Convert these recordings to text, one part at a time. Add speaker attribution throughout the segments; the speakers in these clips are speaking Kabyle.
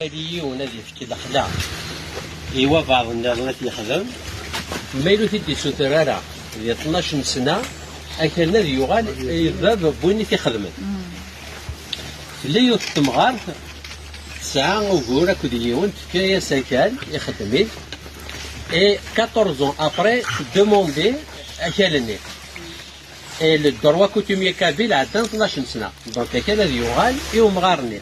Speaker 1: Ad yiwen ad yefk lexla i wabaḍ nniḍen ad t-yexdem, ma yella ur t-id-isuter ara di ṭnac n sna, akal-nni ad yuɣal i bab n win i t-ixedmen. Tella yiwet n temɣart tesɛa ugur akked yiwen, tefka-as akal, ixeddem-it, et 14 ans après demander akal-nni. Et le droit coutumier kabyle ɛeddan ṭnac n sna, donc akal ad yuɣal i umɣar-nni.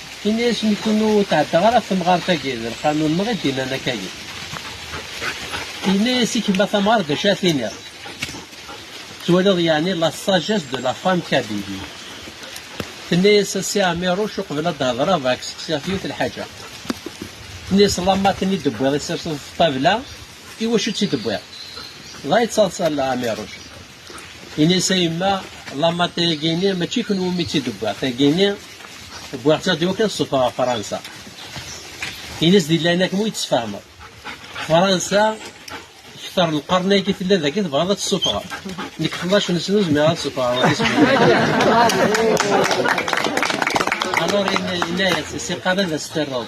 Speaker 1: Ini-as nekun ur tɛeddaɣ ara ɣef temɣart-agi, d lqanun-nneɣ i d-innan akkagi. Yenna-as i kemma tamɣart d acu ara t-iniɣ. Twaliḍ yeɛni la sagesse de la femme kabili. Tenna-as a si Ɛmiruc uqbel ad d-hedreɣ bɣiɣ ad k-seqsiɣ yiwet n lḥaǧa. Tenna-as lamma ten-id-tewwiḍ i tt-terseḍ ɣef ṭṭabla, iwacu tt-id-tewwiḍ? Dɣa yettaḍsa Ɛmiruc. Ini-as a yemma, lamata-agi-ini mačči i kenwi umi tt-id-wwiɣ, tagi-ini wwiɣ-tt ad iwakken ad ṣṣufeɣ ɣef Fransa. Ini-as di laɛnaya-k ma ur yi-d-tesfehmeḍ. Fransa kter lqern-agi tella dagi tebɣiḍ ad tt-ssufɣeḍ. Nekk xlac-nsen ur zmireɣ ad ssufɣeɣ ɣer Ispanya. Alors yenna-as, siqal ad as-terreḍ.